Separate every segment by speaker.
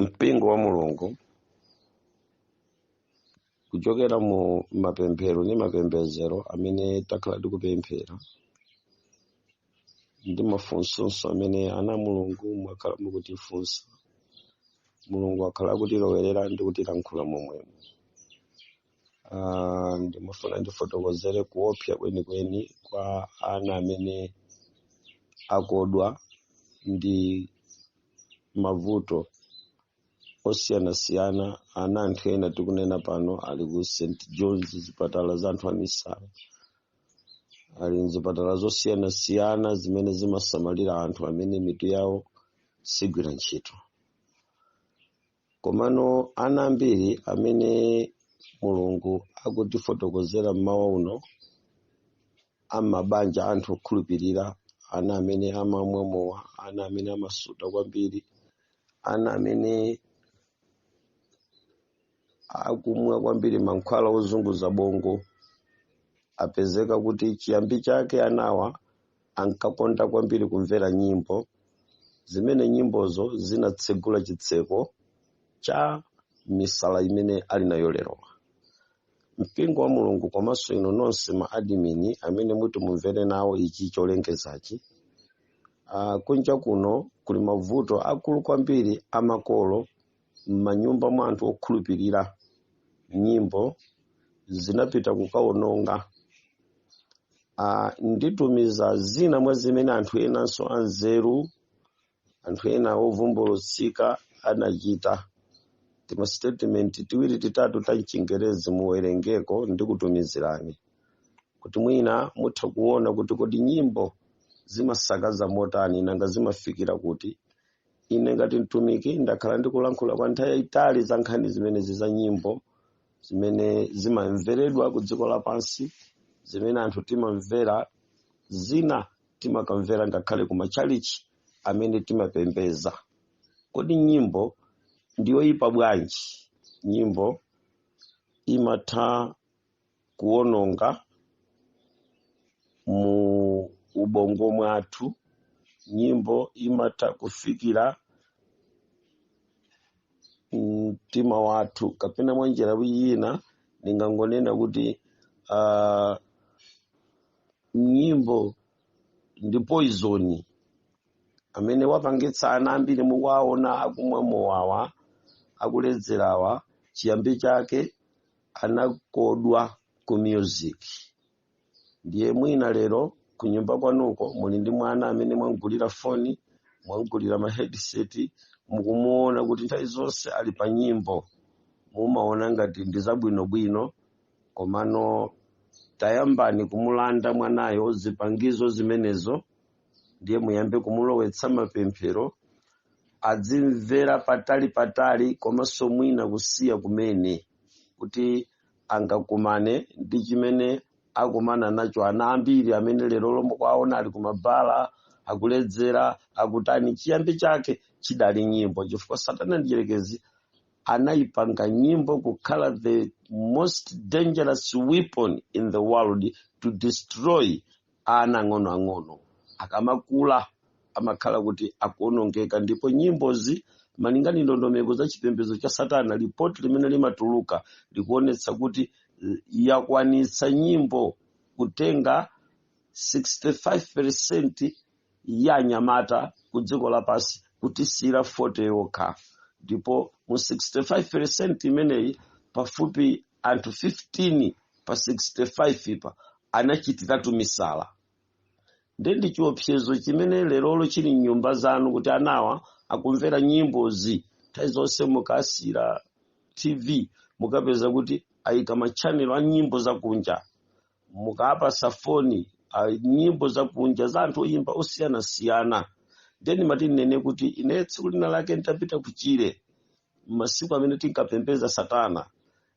Speaker 1: mpingo wa mulungu kuchokera mu mapemphero ndi mapembedzero amene takhala tikupemphera ndi mafunso amene ana a mulungu mwakhala mukutifunsa mulungu akhala akutilowerera ndi kutilankhula momwemo Um, ndimafuna ndifotokozere kuopsa kwenikweni kwa ana amene akodwa ndi mavuto osiyanasiyana ana anthu ena tikunena pano ali ku st johns zipatala za anthu amisala ali mzipatala zosiyanasiyana zimene zimasamalira anthu amene mitu yawo sigwira ntchito Komano ana ambiri amene Mulungu akutifotokozera mmawa uno a m'mabanja anthu okhulupirira, ana amene amamwa mowa, ana amene amasuta kwambiri, ana amene akumwa kwambiri mankhwala ozunguza bongo, apezeka kuti chiyambi chake anawa ankakonda kwambiri kumvera nyimbo zimene nyimbozo zinatsegula chitseko cha misala imene ali nayo lerowa mpingo wa mulungu komanso inu nonse ma adimini amene muti mumvere nawo ichi cholengezachi uh, kunja kuno kuli mavuto akulu kwambiri amakolo m'manyumba mwa anthu okhulupirira nyimbo zinapita kukawononga uh, nditumiza zina mwa zimene anthu enanso anzeru anthu ena ovumbulutsika anachita timasitetimenti tiwiri titatu ta mchingerezi muwerengeko ndikutumizirani kuti mwina mutha kuona kuti kodi nyimbo zimasakaza motani nanga zimafikira kuti ine ngati mtumiki ndakhala ndikulankhula kwa nthawi yayitali za nkhani zimenezi za nyimbo zimene zimamveredwa ku dziko lapansi zimene anthu timamvera zina timakamvera ngakhale ku matchalichi amene timapembedza kodi nyimbo ndiyoyipa bwanji nyimbo imatha kuononga mu ubongo mwathu nyimbo imatha kufikira mtima wathu kapena mwa njira yina ndingangonena kuti um, nyimbo ndi poizoni amene wapangitsa ana ambiri mukuwaona akumwa mowawa akuledzerawa chiyambi chake anakodwa ku music ndiye mwina lero ku nyumba kwanuko muli ndi mwana amene mwamgulira foni mwamgulira ma headset mukumuona kuti nthawi zonse ali pa nyimbo mumaona ngati ndi zabwinobwino komano tayambani kumulanda mwanayo zipangizo zimenezo ndiye muyambe kumulowetsa mapemphero adzimvera patali patali komanso mwina kusiya kumene kuti angakumane ndi chimene akumana nacho ana ambiri amene lerolo mukuwaona ali kumabala akuledzera akutani chiyambi chake chidali nyimbo chifukwa satana mdyerekezi anayipanga nyimbo kukhala the most dangerous weapon in the world to destroy Ana ang'onoang'ono akamakula amakhala kuti akuonongeka ndipo nyimbozi malingana ndi ndondomeko za chipembedzo cha satana lipoti limene limatuluka likuonetsa kuti eh, yakwanitsa nyimbo kutenga 65% ya anyamata ku dziko lapansi kutisiyira 40 yokha ndipo mu 65 percent imeneyi pafupi anthu 15 pa 65-pa anachitiratu misala ndiye ndi chiopsezo chimene lerolo chili mnyumba zanu kuti anawa akumvera nyimbozi nthawi zonse mukawasiyira tv mukapeza kuti ayika matchanelo a nyimbo zakunja mukawapatsa foni ah, nyimbo zakunja za anthu oyimba osiyanasiyana ndiye ndimati ndinene kuti ine tsiku lina lake ndidapita kuchire masiku amene tinkapembeza satana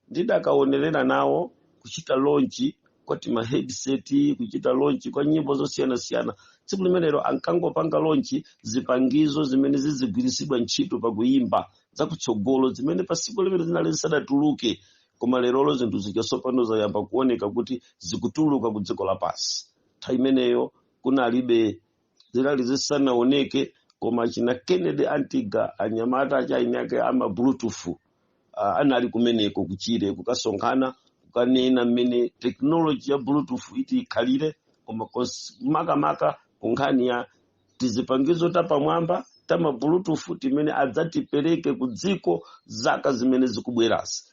Speaker 1: ndidakaonerera nawo kuchita lonchi kwa tima headset kuchita lonchi kwa nyimbo zosiyanasiyana tsiku limenelo ankangopanga lonchi zipangizo zimene zizigwiritsidwa ntchito pakuyimba zakutsogolo zimene pasiku limenelo zinali zisadatuluke koma lerolo zinthu zija tsopano zayamba kuoneka kuti zikutuluka ku dziko lapansi nthawi imeneyo kunalibe zinali zisanaoneke koma china kennedy antiga anyamata achaini ake ama bluetooth uh, anali kumeneko kuchire kukasonkhana kukanena mmene teknoloji ya bluetooth iti ikhalire koma kons- makamaka ku nkhani ya tizipangizo tapamwamba ta mabulutufu timene adzatipereke ku dziko zaka zimene zikubwerazi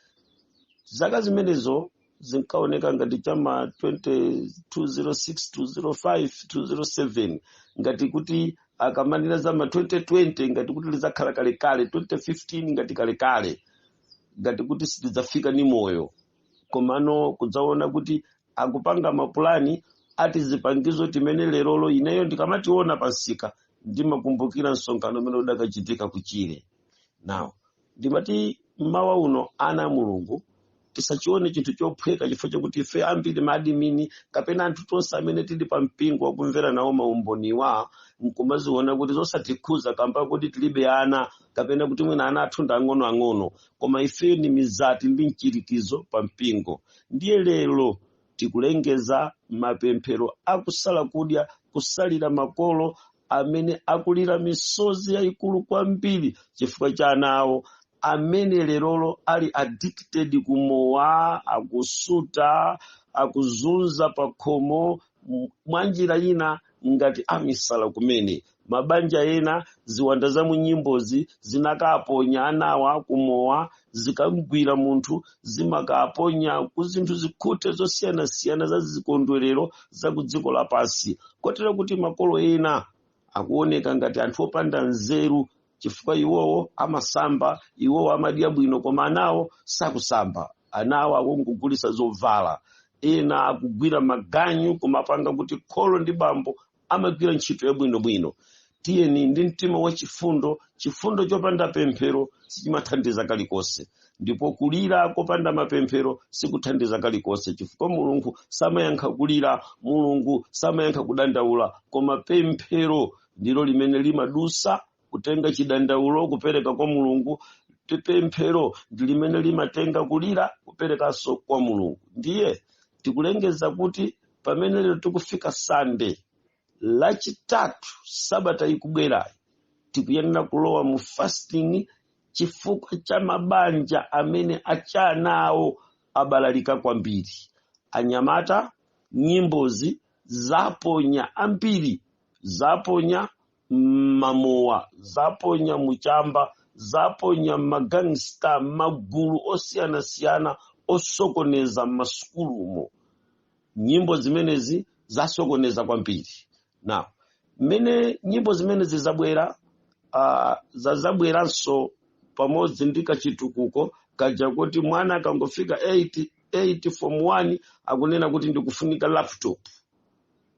Speaker 1: zaka zimenezo zinkaoneka ngati cha ma 20- 206 205 207 ngati kuti akamanena za ma 2020 ngati kuti lizakhala kalekale 2015 ngati kalekale ngati kuti sitidzafika ni moyo komano kudzaona kuti akupanga mapulani ati zipangizo timene lerolo ineyo ndikamationa pansika ndimakumbukira msonkhano umene udakachitika kuchire now ndimati mmawa uno ana a mulungu tisachione chinthu chophweka chifukwa chakuti ife ambiri maadimini kapena anthu tonse amene tili pa mpingo wakumvera nawo maumboniwa nkumaziona kuti zosatikhuza kamba kuti tilibe ana kapena kuti mwina ana athu ndi ang'onoang'ono koma ife ni mizati ndi mchirikizo pa mpingo ndiye lero tikulengeza mapemphero akusala kudya kusalira makolo amene akulira misozi yayikulu kwambiri chifukwa cha ana awo amene lerolo ali addicted kumowa akusuta akuzunza pakhomo mwanjira ina ngati amisala kumene mabanja ena ziwanda za munyimbozi zinakaponya anawa kumowa zikamgwira munthu zimakaponya ku zinthu zikhute zosiyanasiyana za zikondwerero za ku dziko lapansi kotero kuti makolo ena akuoneka ngati anthu opanda nzeru chifukwa iwowo amasamba iwowo amadya bwino koma anawo sakusamba anawo akungogulisa zovala ena akugwira maganyu kumapanga kuti kholo ndi bambo amagwira ntchito yabwinobwino tiyeni ndi mtima wa chifundo chifundo chopanda pemphero sichimathandiza kalikonse ndipo kulira kopanda mapemphero sikuthandiza kalikonse chifukwa mulungu samayankha kulira mulungu samayankha kudandaula koma pemphero ndilo limene limadusa kutenga chidandaulo kupereka kwa mulungu pi- pemphero ndi limene limatenga kulira kuperekanso kwa mulungu ndiye tikulengeza kuti pamene lero tikufika sande lachitatu sabata ikubwerayi tikuyenera kulowa mu fasting chifukwa cha mabanja amene achanawo abalalika kwambiri anyamata nyimbozi zaponya ambiri zaponya mmamowa zaponya mu chamba zaponya magangsta magulu osiyanasiyana osokoneza m'masukulumo nyimbo zimenezi zasokoneza kwambiri now mmene nyimbo zimenezi zabwera uh, zazabweranso pamodzi ndi kachitukuko kaja kuti mwana akangofika 8 8 form 1 akunena kuti ndikufunika laptop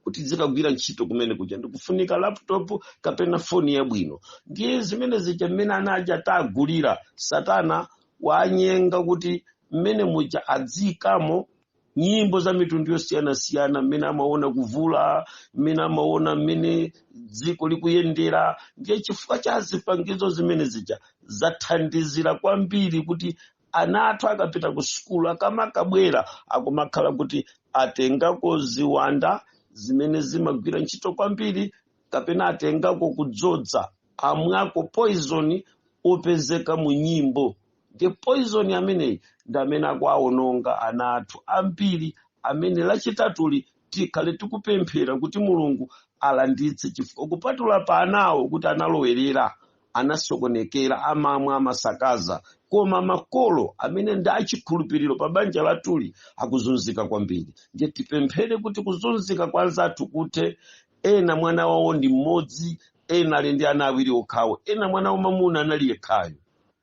Speaker 1: kuti zikagwira ntchito kumene kuja ndikufunika laptop kapena foni yabwino ndiye zimene zija mmene ana aja tagulira satana wanyenga kuti mmene muja adziyikamo nyimbo za mitundu yosiyanasiyana mmene amaona kuvula mmene amaona mmene dziko likuyendera ndiye chifukwa cha zipangizo zimene zija zathandizira kwambiri kuti ana athu akapita ku sukulu akamakabwera akumakhala kuti atengako ziwanda zimene zimagwira ntchito kwambiri kapena atengako kudzodza amwako poizoni opezeka mu nyimbo ndi poizoni ameneyi ndi amene akuawononga ana athu ambiri amene lachitatuli tikhale tikupemphera kuti mulungu alanditse chifukwa kupatula pa anawo kuti analowerera anasokonekera amamwa amasakaza koma makolo amene ndi achikhulupiriro pa banja lathuli akuzunzika kwambiri ndiye tipemphere kuti kuzunzika kwa anzathu kuthe ena mwana wawo ndi mmodzi ena ali ndi ana awiri okhawo ena mwana wamamuna anali yekhayo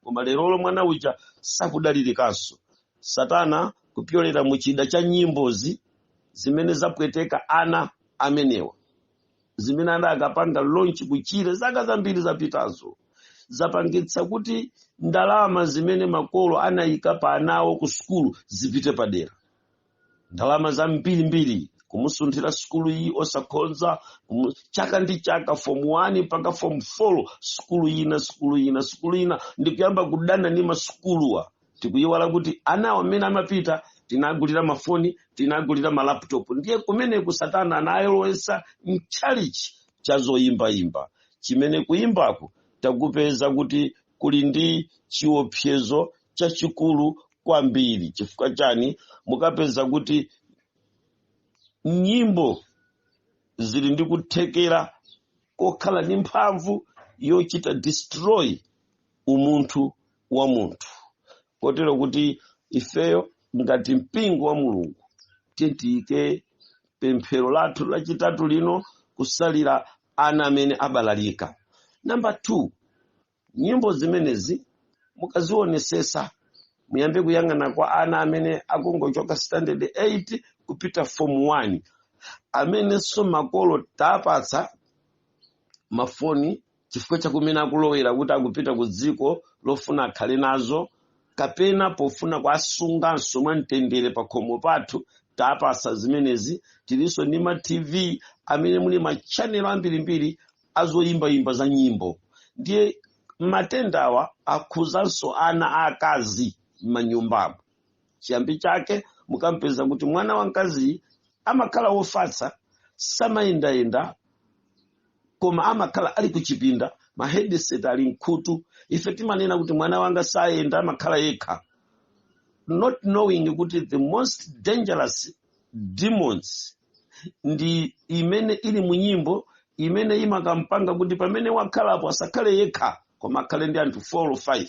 Speaker 1: koma lerolo mwana uja sakudalirikanso satana kupyolera mu chida cha nyimbozi zimene zapweteka ana amenewa zimene adakapanga launch kuchire zaka zambiri zapitazo zapangitsa kuti ndalama zimene makolo anayika pa anawo ku sukulu zipite padera ndalama zambirimbiri kumusunthira sukulu iyi osakhonza chaka ndi chaka form 1 mpaka form 4 sukulu ina sukulu ina sukulu ina ndikuyamba kudana ndi masukuluwa tikuyiwala kuti anawo amene amapita tinagulira mafoni tinagulira malaputopu ndiye kumeneku satana anayolowesa mtchalichi cha zoyimbayimba chimene kuyimbako takupeza kuti kuli ndi chiopsezo chachikulu kwambiri chifukwa chani mukapeza kuti nyimbo zili ndi kuthekera kokhala ndi mphamvu yochita destroy umunthu wa munthu kotero kuti ifeyo ngati mpingo wa mulungu tiyike pemphero lathu lachitatu lino kusalira ana amene abalalika namba 2 nyimbo zimenezi mukazionesesa muyambe kuyang'ana kwa ana amene akungochoka standard 8 kupita form 1 amenenso makolo tapatsa mafoni chifukwa cha kumene akulowera kuti akupita ku dziko lofuna akhale nazo kapena pofuna kuasunganso mwa mtendere pa khomo pathu taapasa zimenezi tilinso ndi ma tv amene muli machanelo ambirimbiri azoyimbayimba za nyimbo ndiye matendawa akhuzanso ana aakazi m'manyumbamo chiyambi chake mukampeza kuti mwana wamkaziyi amakhala wofatsa samayendayenda koma amakhala ali kuchipinda ma headset ali mkhutu ife timanena kuti mwana wanga sayenda amakhala yekha not knowing kuti the most dangerous demons ndi imene ili mu nyimbo imene imakampanga kuti pamene wakhalapo asakhale yekha koma akhale ndi anthu 4 or 5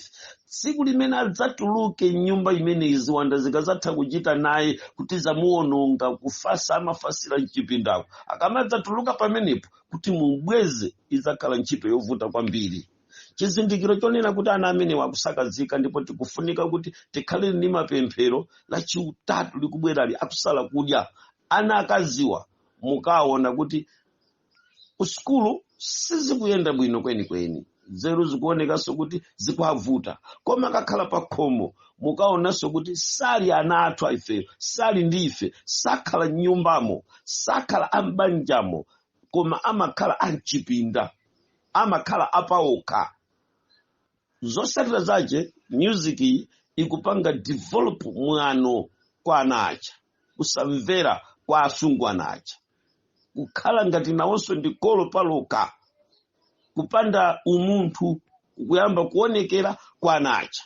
Speaker 1: tsiku limene adzatuluke mnyumba imene ziwanda zikazatha kuchita naye kuti zamuononga kufasa amafasira mchipindako akamadzatuluka pamenepo kuti mubweze idzakhala ntchito yovuta kwambiri chizindikiro chonena kuti ana amenewa akusakazika ndipo tikufunika kuti tikhale ndi mapemphero lachitatu likubwerali akusala kudya ana akaziwa mukaona kuti kusukulu sizikuyenda bwino kwenikweni nzeru zikuonekanso kuti zikuavuta koma akakhala pa khomo mukaonanso kuti sali ana athu ifeyo sali ndi ife sakhala m'nyumbamo sakhala am'banjamo koma amakhala amchipinda amakhala apaokha zotsatira zake music iyi ikupanga develop mwano kwa ana aja kusamvera kwa asungwana aja kukhala ngati nawonso ndi kolo palokha kupanda umunthu kuyamba kuonekera kwa ana aja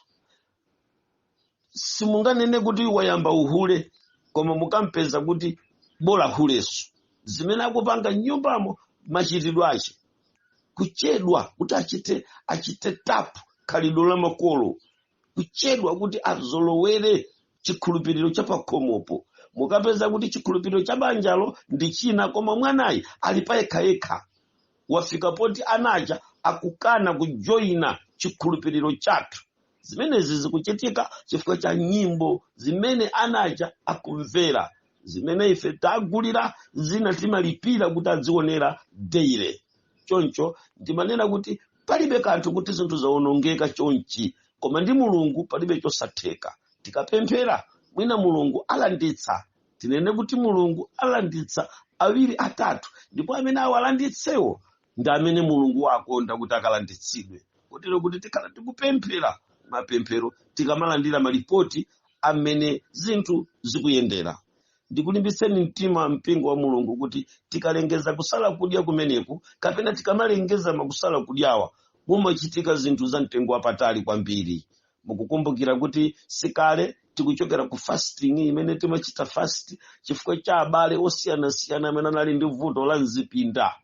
Speaker 1: simunganene kuti wayamba uhule koma mukampeza kuti bola hule so zimene akupanga mnyumbamo machitidwe ache kuchedwa kuti achite achite tap khalidwe la makolo kuchedwa kuti azolowere chikhulupiriro cha pakhomopo mukapeza kuti chikhulupiriro cha banjalo ndi china koma mwanayi ali payekhayekha wafika poti ana aja akukana kujoyina chikhulupiriro chathu zimenezi zikuchitika chifukwa cha nyimbo zimene ana aja akumvera zimene ife tagulira zina timalipira kuti adzionera daily choncho ndimanena kuti palibe kanthu kuti zinthu zawonongeka chonchi koma ndi mulungu palibe chosatheka tikapemphera mwina mulungu alanditsa tinene kuti mulungu alanditsa awiri atatu ndipo amene awalanditsewo ndi amene mulungu wakonda kuti akalanditsidwe kotero kuti tikhala tikupemphera mapemphero tikamalandira malipoti a mmene zinthu zikuyendera ndikulimbitseni mtima mpingo wa mulungu kuti tikalengeza kusala kudya kumeneku kapena tikamalengeza makusala kudyawa mumachitika zinthu za mtengo wapatali kwambiri mukukumbukira kuti sikale tikuchokera ku fasting imene timachita fast chifukwa cha abale osiyanasiyana amene anali ndi vuto la mzipinda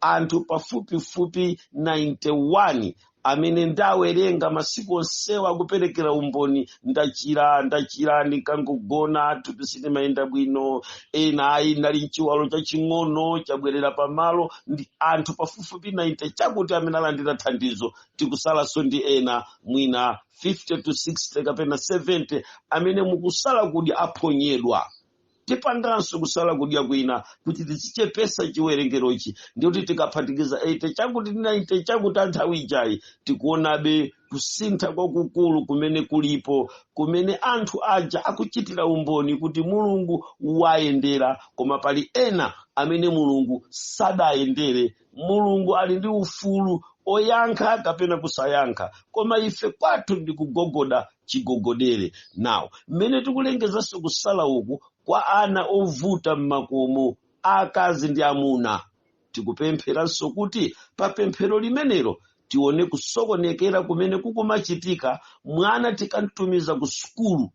Speaker 1: anthu pafupifupi 91 amene ndawerenga masiku onsewa akuperekera umboni ndachira ndachira ndikangogona thupi silimayenda bwino ena ayi ndinali nchiwalo chaching'ono chabwerera pamalo ndi anthu pafupifupi 90 chakuti amene alandira thandizo tikutsalanso ndi ena mwina 50 to 60 kapena 70 amene mukusala kudya aphonyedwa tipanganso kusala kudya kwina kuti tizichepesa chiwerengerochi ndikuti tikaphatikiza 80 chakuti 90 chakuti a nthawi ijayi tikuonabe kusintha kwakukulu kumene kulipo kumene anthu aja akuchitira umboni kuti mulungu wayendera koma pali ena amene mulungu sadayendere mulungu ali ndi ufulu oyankha kapena kusayankha koma ife kwathu ndi kugogoda chigogodere now mmene tikulengezanso kusala uku kwa ana ovuta m'makomo akazi ndi amuna tikupempheranso kuti pa pemphero limenelo tione kusokonekera kumene kukumachitika mwana tikamtumiza ku sukulu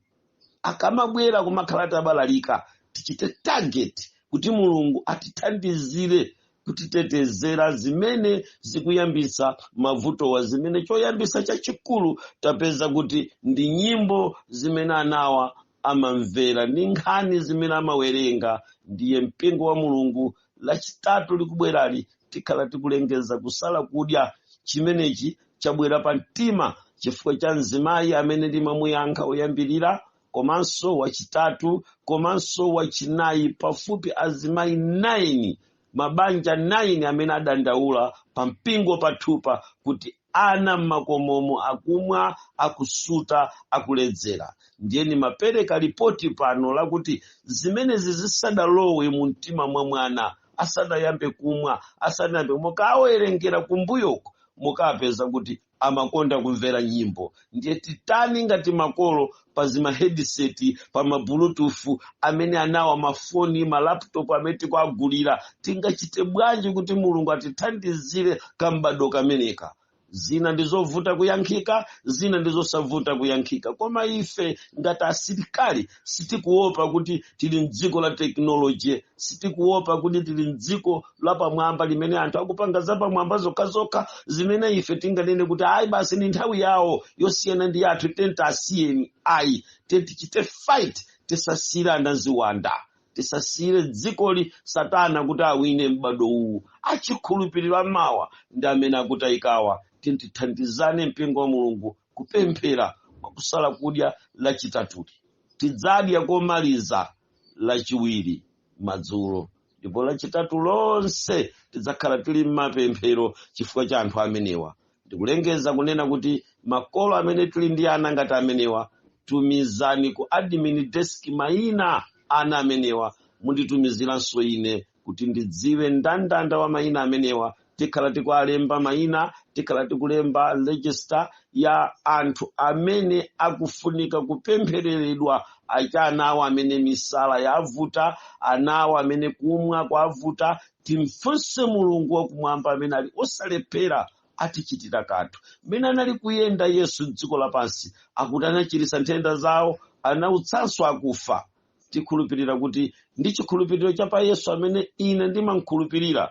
Speaker 1: akamabwera kumakhala atabalalika tichite target kuti mulungu atithandizire kutitetezera zimene zikuyambisa mavutowa zimene choyambisa chachikulu tapeza kuti ndi nyimbo zimene anawa amamvera ndi nkhani zimene amawerenga ndiye mpingo wa mulungu lachitatu likubwerali tikhala tikulengeza kusala kudya chimenechi chabwera pa mtima chifukwa cha mzimayi amene ndimamuyankha oyambirira komanso wachitatu komanso wachinayi pafupi azimayi 9 mabanja 9 amene adandaula pa mpingo pathu pa kuti Ana m'makomomu akumwa, akusuta, akuledzera. Ndiye ndimapereka lipoti pano lakuti zimenezi zisadalowe mu mtima mwa mwana, asadayambe kumwa, asadayambe, mukawerengera kumbuyoko, mukapeza kuti amakonda kumvera nyimbo. ndiye titani ngati makolo pa zimaheadset pa mabluetooth amene anawa mafoni malaptop amene tikuagulira tingachite bwanji kuti mulungu atithandizire kam'bado kameneka zina ndizovuta kuyankhika zina ndizosavuta kuyankhika koma ife ngati asilikali sitikuopa kuti tili mdziko la tekinoloji sitikuopa kuti tili mdziko lapamwamba limene anthu akupanga zapamwamba zokhazokha zimene ife tinganene kuti ayi basi ni nthawi yawo yosiyana ndi yathu then tiasiyeni ayi then tichite fight tisasiyire anawa ziwanda tisasiyire dzikoli satana kuti awine m'bado uwu achikhulupiriro a mawa ndi amene akutayikawa tithandizane mpingo wa mulungu kupemphera mwa kusala kudya lachitatuli tidzadya komaliza lachiwiri madzulo ndipo lachitatu lonse tidzakhala tili m'mapemphero chifukwa cha anthu amenewa ndikulengeza kunena kuti makolo amene tili ndi ana ngati amenewa tumizani ku admin desk mayina a ana amenewa munditumizirenso ine kuti ndidziwe ndandanda wa mayina amenewa tikhala tikuwalemba mayina tikhala tikulemba register ya anthu amene akufunika kupemphereredwa achana awo amene misala yavuta anawo amene kumwa kwavuta timfunse mulungu wakumwamba amene ali osalephera atichitira kanthu mmene anali kuyenda yesu mdziko lapansi akuti anachiritsa nthenda zawo anautsanso akufa tikhulupirira kuti ndi chikhulupiriro cha pa yesu amene ine ndimamkhulupirira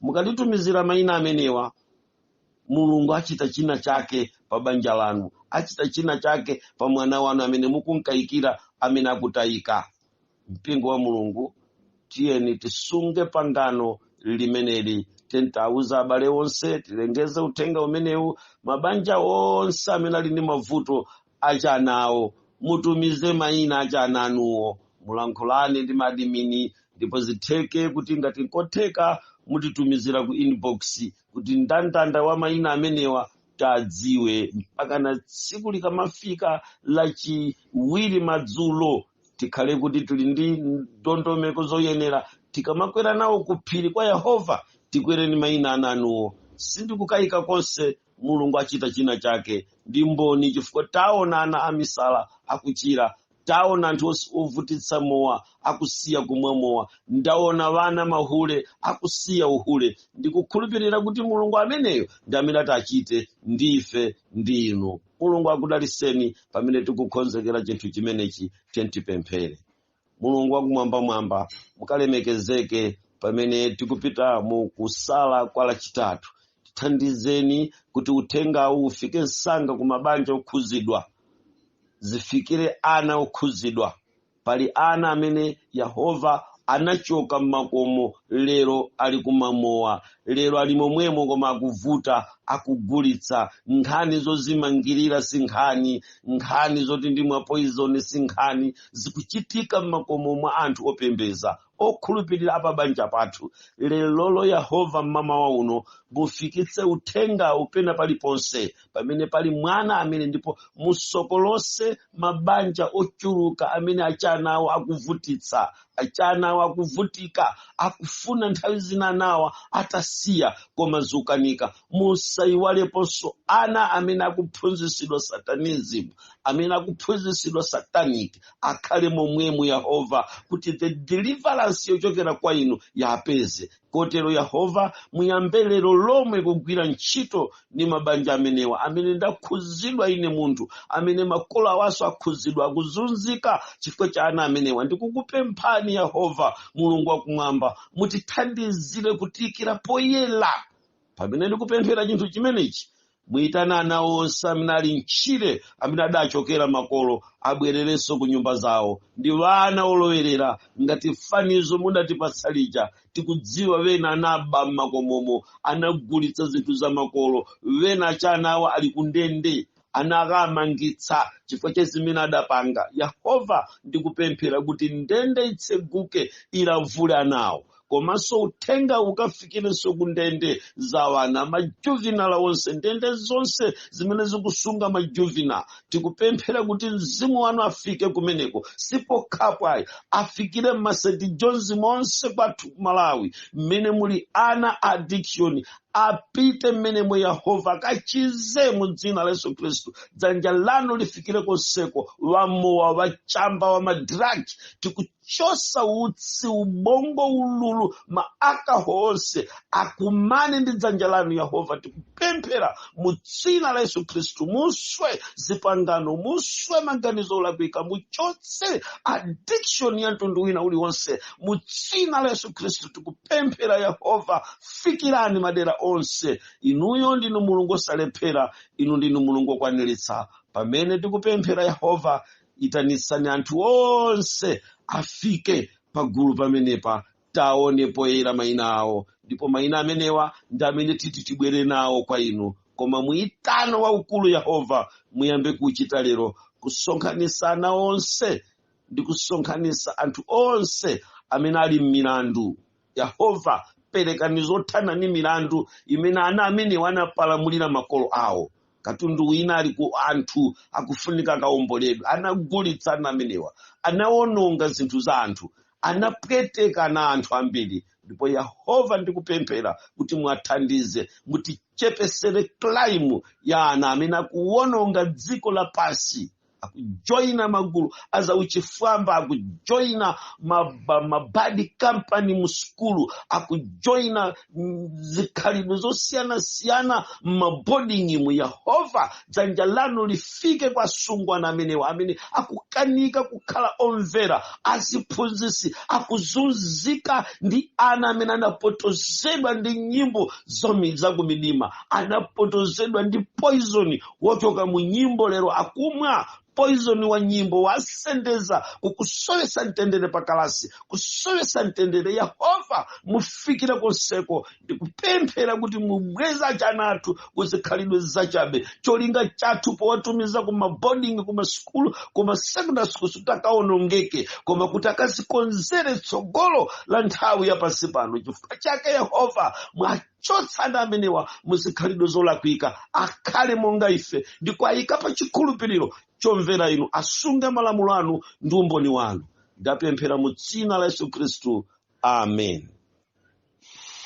Speaker 1: mukatitumizira mayina amenewa mulungu achita china chake pa banja lanu achita china chake pa mwana wanu amene mukunkayikira amene akutayika mpingo wa mulungu tiyeni tisunge pangano limeneli tiyeni tauza abale onse tilengeze uthenga umenewu mabanja onse amene ali ndi mavuto achanawo mutumize mayina achana anuwo mulankhulane ndi madimini ndipo zitheke kuti ngati nkotheka mutitumizira ku inbox kuti ndandanda wa mayina amenewa tiwadziwe mpaka na tsiku likamafika lachiwiri madzulo tikhale kuti tili ndi ndondomeko zoyenera tikamakwera nawo ku phiri kwa yehova tikwere ni mayina a ana anuwo sindikukayika konse mulungu achita china chake ndi mboni chifukwa taona ana amisala akuchira taona anthu ovutitsa mowa akusiya kumwa mowa ndaona ana mahule akusiya uhule ndikukhulupirira kuti mulungu ameneyo ndi amene ati achite ndi ife ndi inu mulungu akudaliseni pamene tikukonzekera chinthu chimenechi tiyeni tipemphere mulungu wakumwambamwamba mukalemekezeke pamene tikupita mu kusala kwa lachitatu tithandizeni kuti uthengawu ufike msanga ku mabanja okhuzidwa zifikire ana okhuzidwa pali ana amene yehova anachoka mmakomo lero ali kumamowa lero ali momwemo koma akuvuta akugulitsa nkhani zozimangirira si nkhani nkhani zoti ndimwa poizoni si nkhani zikuchitika m'makomo mwa anthu opembeza okhulupirira apabanja pathu lerolo yehova m'mamawa uno mufikitse uthengawu pena paliponse pamene pali mwana amene ndipo musokolose mabanja ochuluka amene achana awo akuvutitsa achana awo akuvutika akufuna nthawi zina nawa atasiya koma zukanika musaiwaleponso ana amene akuphunzitsidwa satanism amene akuphunzitsidwa satanic akhale momwemu yehova kuti the deliverance yochokera kwa inu iwapeze kotero yehova muyambe lero lomwe kugwira ntchito ndi mabanja amenewa amene ndakhuzidwa ine munthu amene makolo awaso akhuzidwa akuzunzika chifukwa cha ana amenewa ndikukupemphani yehova mulungu wakumwamba mutithandizire kutiyikira poyera pamene ndikupemphera chinthu chimenechi muyitane ana onse amene ali mtchire amene adachokera makolo abwererenso ku nyumba zawo ndi vana olowerera ngati fanizo mudatipatsa lija tikudziwa vena anaba m'makomomo anagulitsa zinthu za makolo vena achanawa ali kundende anakamangitsa chifukwa cha zimene adapanga yehova ndikupemphera kuti ndende itseguke ilavule anawo komanso uthenga ukafikirenso ku ndende za wana majuvinala onse ndende zonse zimene zikusunga majuvinala tikupemphera kuti mzimu wanu afike kumeneko sipokhapo ayi afikire m'masenti jonzi monse kwathu ku malawi mmene muli ana a addiction apite mmenemo yehova akachize mu dzina la yesu khristu dzanja lanu lifikire konseko wamowa wachamba wa madragi tikuchosa utsi ubongo ululu maakaho onse akumane ndi dzanja lanu yehova tikupemphera mu dzina la yesu khristu muswe zipangano muswe maganizo olakwika muchotse addiction ya mtundu wina uliwonse mu dzina la yesu khristu tikupemphera yehova fikirani madera onse inuyo ndinu mulungu osalephera inu ndinu mulungu okwaniritsa pamene tikupemphera yehova itanisani anthu onse afike pagulu pamenepa taone poyera mayina awo ndipo mayina amenewa ndi amene titi tibwere nawo kwa inu koma muyitano waukulu yehova muyambe kuchita lero kusonkhanisa ana onse ndi kusonkhanisa anthu onse amene ali m'milandu yehova perekani zothana ni milandu imene ana amenewa anapalamulira makolo awo katundu wina ali ku anthu akufunika kaomboledwe anagulitsa ana amenewa anawononga zinthu za anthu anapwetekana anthu ambiri ndipo yehova ndikupemphera kuti mwathandize mutichepesere klaimu ya ana amene akuwononga dziko lapansi akujoina magulu azauchifwamba akujoina maba- mabadi kampani musukulu akujoina mm, zikhalidwe zosiyanasiyana mmabodingimu yehova dzanja lanu lifike kwa asungwana amenewa amene akukanika kukhala omvera aziphunzisi akuzunzika ndi ana amene anapotozedwa ndi nyimbo zomi- zakumidima anapotozedwa ndi poizoni wochoka mu nyimbo lero akumwa poizoni wa nyimbo wasendeza kukusowesa mtendere pakalasi kusowesa mtendere yehova mufikire konseko ndikupemphera kuti mubweze achana athu kuzikhalidwe zachabe cholinga chathu powatumiza kumaboding kumasukulu kumasekondary schools sikuti akaonongeke koma kuti akazikonzere tsogolo la nthawi yapansi pano chifukwa chake yehova mwati chotsani amenewa muzikhalidwe zolakwika akhale monga ife ndi kuwayika pa chikhulupiriro chomvera inu asunge malamulo anu ndi umboni wanu ndapemphera mu dzina la yesu khristu amen